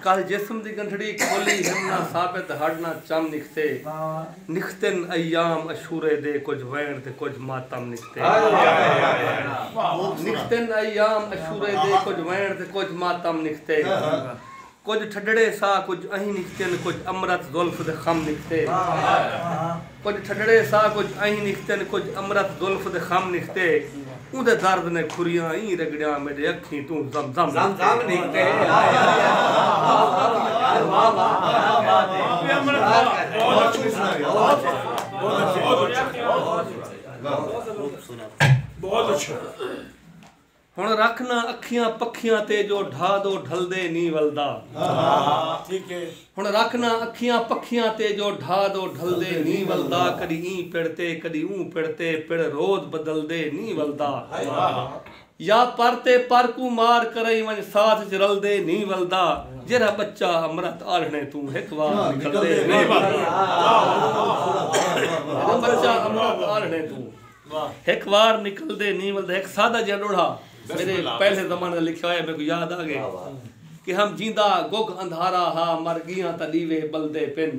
کل جسم دی گنٹھڑی کھولی ہن نہ ثابت ہڈ نہ چم نکھتے نکھتن ایام عشورے دے کجھ وین تے کجھ ماتم نکھتے نکھتن ایام عشورے دے کجھ وین تے کجھ ماتم نکھتے کجھ ٹھڈڑے سا کجھ اہیں نکھتن کجھ امرت زلف دے خم نکھتے کجھ ٹھڈڑے سا کجھ ائیں نکھتن کجھ امرت زلف دے خم نکھتے اوندے درد نے کھریاں ایں رگڑیاں میڈے اکھیں توں زم زم نکھتے۔ ہن رکھ نہ اکھیاں پکھیاں تے جو ڈھا دو ڈھلدے نی ولدا۔ ہن رکھ نہ اکھیاں پکھیاں تے جو ڈھا دو ڈھلدے نی ولدا کڈی ایں پڑ تے کڈی اوں پڑ تے پڑ روز بدلدے نی ولدا یا پر تے پر کوں مار کرئیں ونج ساتھ اچ رلدے نی ولدا جیرھا بچہ امرت آلھنے توں ہک وار نکلدے نی ولدا جیرھا بچہ امرت آلھنے توں۔ ہک وار نکلدے نیں ولدا ہک سادہ جیہا ݙوہڑا میݙے پہلے زمانے دا لکھیا ہویا میکوں یاد آ ڳئے کہ ہم جیندا گگ اندھارا ہا مر ڳیاں تاں ݙیوے ٻلدے پن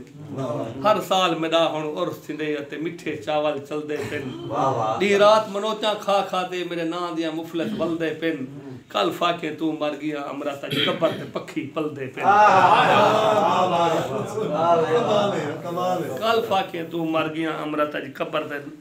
ہر سال میݙا ہݨ عرس تھیندے اتے مٹھے چاول چلدے پن ݙینہہ رات منوچاں کھا کھا تے میݙے ناں دیاں مفلس ولدے پن کل فاقیں توں مر ڳیاں امرت اچ قبر تے پکھی پلدے پن کل فاقیں توں مر ڳیاں امرت اچ قبر تے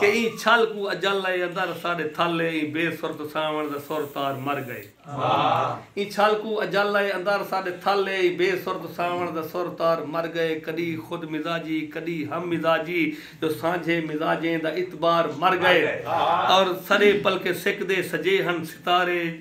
کہ ایں چھل کوں اجل اے اندر ساڈے تھل اے ایں بے سرت ساوݨ دا سر تار مر گئے۔ ایں چھل کوں اجل اے اندر ساڈے تھل اے ایں بے سرت ساوݨ دا سر تار مر گئے۔ کݙی خود مزاجی کݙی ہم مزاجی جو سانجھے مزاجیں دا اعتبار مر گئے۔ اور سݙے پلکیں سکدے سجے ہن ستارے۔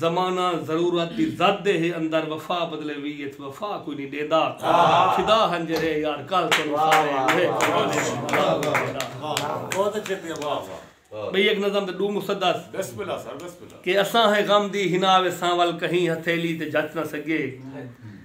زمانہ ضرورت دی زد دے ہے اندر وفا بدلے وی اچ وفا کوئی نی ڈیندا فدا ہن جیڑھے یار کل تینوں سارے اوہے زمانے دی بلا کوئی ڈیندا۔ بئی اک نظم تے ڈو مسدس کہ اساں ہیں غم دی حنا وے سانول کہیں ہتھیلی تے جچ نہ سگے۔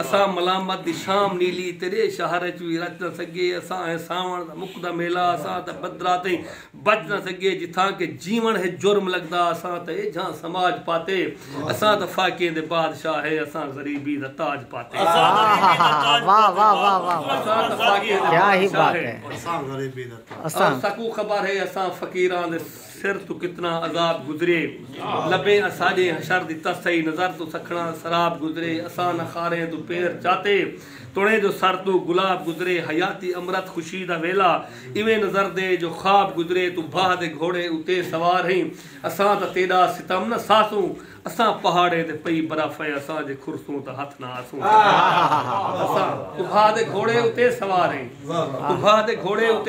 اساں ملامت دی شام نیلی تیرے شہر اچ وی رچ نہ سگے اساں ہے ساوݨ دا مکدا میلہ اساں تاں بدراں تئیں بچ نہ سگے جتھاں کہ جیوݨ ہے جرم لڳدا اساں تاں ایجھاں سماج پاتے اساں تاں فاقیں دے بادشاہ ہے اساں غریبی دا تاج پاتے اساں تاں فاقیں دے بادشاہ ہے اساں غریبی دا تاج پاتے اساں ساکوں خبر ہے اساں فقیراں دے سر توں کتنا عذاب گزرے لبیں اساڈے حشر دی تسہی نظر توں سکھڑاں سراب گزرے اساں نہ خاریں توں پیر چاتے تڑیں جو سر توں گلاب گزرے حیاتی امرت خوشی دا ویلا ایویں نظر دے جو خواب گزرے توں بھاہ دے گھوڑے اتے سوار ہئیں اساں تاں تیڈا ستم نہ سہسوں اساں پہاڑیں تے پئی برف اے اساں جے کھرسوں تاں ہتھ نہ آسوں اساں توں بھاہ دے گھوڑے اتے سوار ہئیں توں بھاہ دے گھوڑے اتے